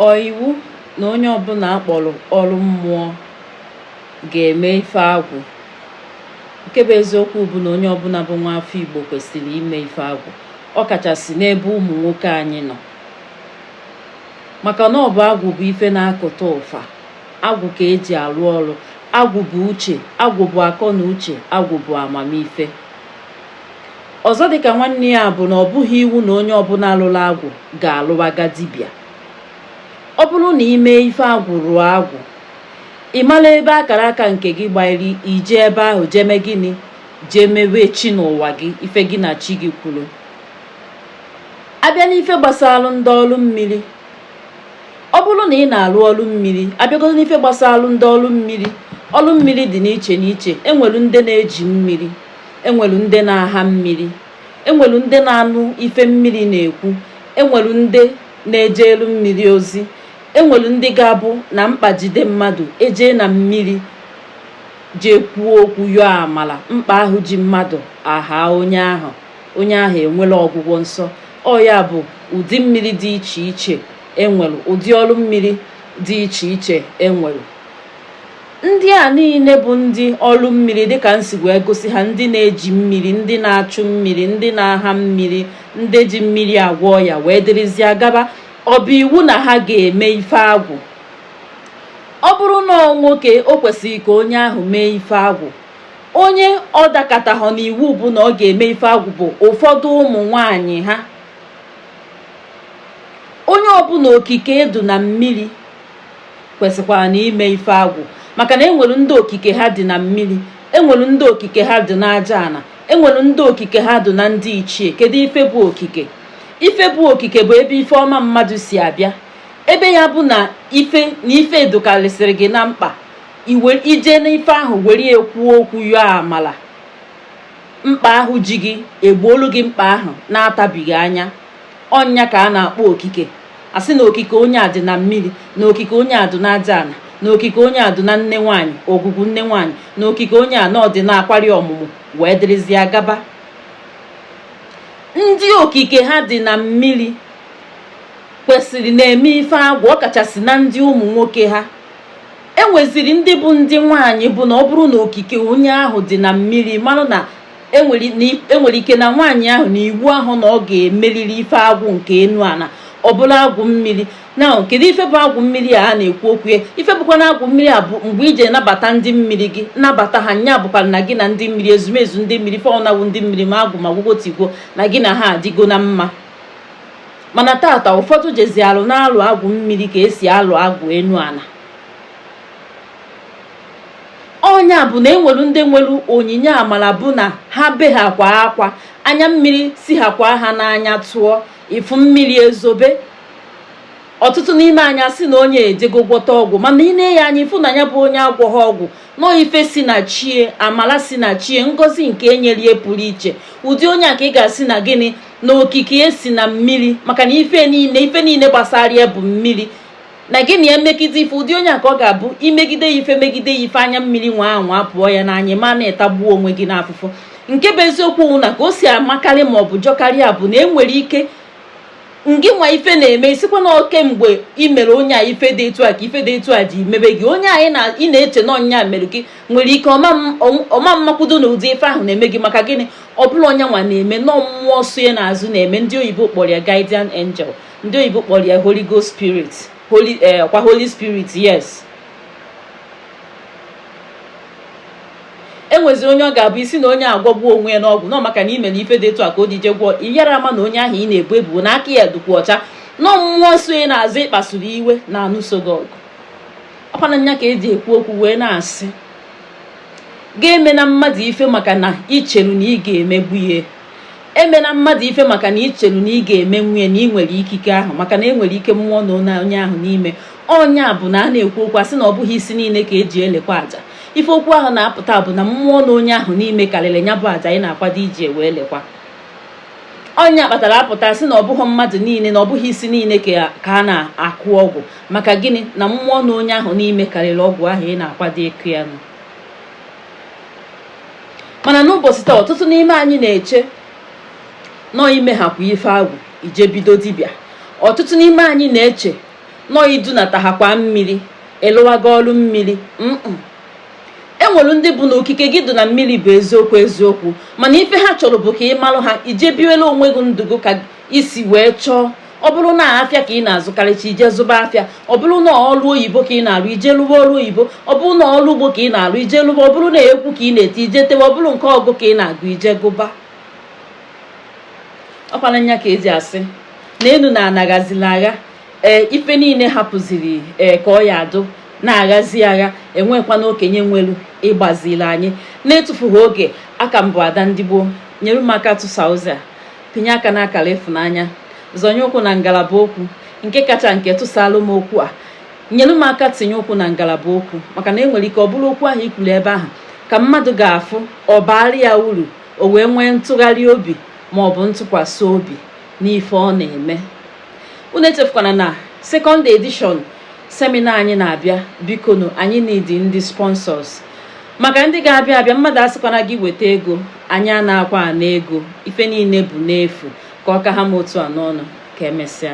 Ọ iwu na onye ọbụla akpọrọ ọrụ mmụọ ga-eme ife agwụ. Nke bụ eziokwu bụ na onye ọbụla bụ nwa afọ Igbo kwesịrị ime ife agwụ, ọ kachasị n'ebe ụmụ nwoke anyị nọ. Maka na ọ bụ agwụ bụ ife na-akụta ụfa, agwụ ka eji arụ ọrụ, agwụ bụ uche, agwụ bụ akọ na uche, agwụ bụ amamife. Ọzọ dị ka nwanne ya bụ na ọ bụghị iwu na onye ọbụla lụrụ agwụ ga-alụwaga dibịa. Ọ bụrụ na i mee ife agwụ rụọ agwụ, ị mara ebe akara aka nke gị gbanyere i jee ebe ahụ jee mee gịnị jee mebe chi n'ụwa gị ife gị na chi gị kwuru abịa n'ife gbasara ndị ọrụ mmiri ọ bụrụ na ị na-arụ ọrụ mmiri abịagodo n'ife gbasara ndị ọrụ mmiri ọrụ mmiri dị n'iche n'iche enwere ndị na-eji mmiri enwelu ndị na-aha mmiri enwelu ndị na-anụ ife mmiri na-ekwu enwelu ndị na-ejelu mmiri ozi enwelu ndị ga-abụ na mkpa jide mmadụ ejee na mmiri jee kwuo okwu yọọ amala mkpa ahụ ji mmadụ ahaa onye ahụ onye ahụ enwere ọgwụgwọ nsọ ọ ya bụ ụdị mmiri dị iche iche enwere ụdị ọrụ mmiri dị iche iche enwere Ndị a niile bụ ndị ọrụ mmiri dịka m si wee gosi ha ndị na-eji mmiri ndị na-achụ mmiri ndị na-aha mmiri ndị ji mmiri agwọ ọya wee dịrịzịa gaba ọ bụ iwu na ha ga-eme ife agwụ ọ bụrụ na ọ nwoke o kwesịrị ka onye ahụ mee ife agwụ onye ọ dakọtahọ n'iwu bụ na ọ ga-eme ife agwụ bụ ụfọdụ ụmụ nwanyị ha onye ọbụla okike ya dụ na mmiri kwesịkwara na ime ife agwụ maka na enwere ndị okike ha dị na mmiri enwere ndị okike ha dị n'aja ana enwere ndị okike ha dị na ndị ichie kedu ife bụ okike ife bụ okike bụ ebe ife ọma mmadụ si abịa ebe ya bụ na ife na ife dụkarịsịrị gị na mkpa i were i jee n'ife ahụ were ya kwuo okwu yọọ amala mkpa ahụ ji gị egboolu gị mkpa ahụ na-atabighị anya ọ nya ka a na-akpọ okike asị na okike onye a dị na mmiri na okike onye a dị n'aja ana na okike onye a dị na nne nwaanyị ogwugwu nne nwaanyị na okike onye a na ọ dị n'akwari ọmụmụ wee dịrịzịa gaba ndị okike ha dị na mmiri kwesịrị na-eme ife agwụ ọkachasị na ndị ụmụ nwoke ha enweziri ndị bụ ndị nwaanyị bụ na ọ bụrụ na okike onye ahụ dị na mmiri mara na enwere ike na nwaanyị ahụ na iwu ahụ na ọ ga-emeriri ife agwụ nke enu ana ọ bụrụ agwụ mmiri na kedu ife bụ agwụ mmiri a na-ekwu okwu ya ife bụkwa na agwụ mmiri a bụ mgbe i je nabata ndị mmiri gị nabata ha nya bụkwara na gị na ndị mmiri ezumezu ndị mmiri fọnawụ ndị mmiri ma agwụ ma gwụgotigwo na gị na ha adịgo na mma mana tata ụfọdụ jezi alụ na-alụ agwụ mmiri ka esi alụ agwụ enu ana ọ nya bụ na enwere ndị nwere onyinye amara bụ na ha behakwa akwa anya mmiri sihakwa ha n'anya tụọ ị fụ mmiri ezobe ọtụtụ n'ime anyị asị na onye a ejego gwọta ọgwụ mana i nee ya anya ị fụ na nya bụ onye agwọghị ọgwụ na ọ ife si na chi e amala si na chi e ngozi nke enyelie pụrụ iche ụdị onye a ka ị ga-asị na gịnị na okike e si na mmiri maka na ife niile ife niile gbasara ya bụ mmiri na gị na ya megide ife ụdị onye a ka ọ ga-abụ i megide ya ife megide ya ife anya mmiri nwa ahụ apụọ ya n'anya ma na ị tagbuo onwe gị n'afụfụ nke bụ eziokwu na ka o si makarị ma ọ bụ jọkarịa bụ na enwere ike ngị nwa ife na-eme ị sịkwa na ọ kemgbe ị mere onye a ife dị etu a ka ife dị etu a ji mebe gị onye ahụ na ị na-eche na ọ nya mere gị nwere ike ọ ma amakwudo na ụdị ife ahụ na-eme gị maka gịnị ọ bụrọ onye nwa na-eme na ọ mmụọ so ya n'azụ na-eme ndị oyibo kpọrọ ya guardian angel ndị oyibo kpọrọ ya holy ghost spirit holy eh, kwa holy spirit yes enwezi onye ọ ga-abụ ị sị na onye a agwọgbuo onwe ya n'ọgwụ na ọ maka na i mere ife dị etu a ka o ji je gwọọ ị yara ama na onye ahụ ị na-ebu ebubo na aka ya dịkwa ọcha na ọ mmụọ so ya n'azụ ị kpasuru iwe na-anụso gị ọgụ ọ kwa nya ka eji ekwu okwu wee na-asị gị emena mmadụ ife maka na i cheru na ị ga-emegbu ya emena mmadụ ife maka na i chelu na ị ga-emenwu ya na ị nwere ikike ahụ maka na enwere ike mmụọ nọ onye ahụ n'ime ọ nya bụ na a na-ekwu okwu asị na ọ bụghị isi niile ka eji elekwa aja ife okwu ahụ na-apụta bụ na mmụọ nọ onye ahụ n'ime karịrị ya bụ aja ị na-akwado iji wee lekwa ọ nya kpatara apụta sị na ọ bụghị mmadụ niile na ọ bụghị isi niile ka a na-akụ ọgwụ maka gịnị na mmụọ nọ onye ahụ n'ime karịrị ọgwụ ahụ ị na-akwado ịkụ ya nụ mana n'ụbọchị taa ọtụtụ n'ime anyị na-eche na ọ i mehakwa ife agwụ i je bido dibịa ọtụtụ n'ime anyị na-eche na ọ i dunatahakwa mmiri ị lụwago ọrụ mmiri enwere ndị bụ na okike gị dị na mmiri bụ eziokwu eziokwu mana ife ha chọrọ bụ ka ị malụ ha i je biwelu onwe gị ndụ gị ka i si wee chọọ ọ bụrụ na afịa ka ị na-azụkarịcha i je zụba afịa ọ bụrụ na ọrụ oyibo ka ị na-arụ i je lụba ọrụ oyibo ọ bụrụ na ọrụ ugbo ka ị na-arụ i je lụba ọ bụrụ na egwu ka ị na-eti i je tewe ọ bụrụ nke ọgụ ka ị na-agụ i je gụba ọ kwa nya ka e ji asị na enu na ana ghazila agha ee ife niile hapụziri ee ka ọ ya adụ na-aghazi agha enwekwa na okenye nwelu ịgbaziri anyị na-etufughị oge a ka m bụ ada ndị igbo nyere m aka tụsa ozi a pịnye aka n'akara ịfụnanya zọnye ụkwụ na ngalaba okwu nke kacha nke tụsaalụ m okwu a nyere m aka tinye ụkwụ na ngalaba okwu maka na enwere ike ọ bụrụ okwu ahụ i kwuru ebe ahụ ka mmadụ ga-afụ ọ baara ya uru o wee nwee ntụgharị obi ma ọ bụ ntụkwasị obi n'ife ọ na-eme unu echefukwana na second edition seminar anyị na-abịa bikonu anyị need ndị sponsors maka ndị ga-abịa abịa mmadụ asịkwana gị weta ego anyị anakwa ana ego ife niile bụ n'efu ka ọ ka ha m otu a n'ọnụ ka emesịa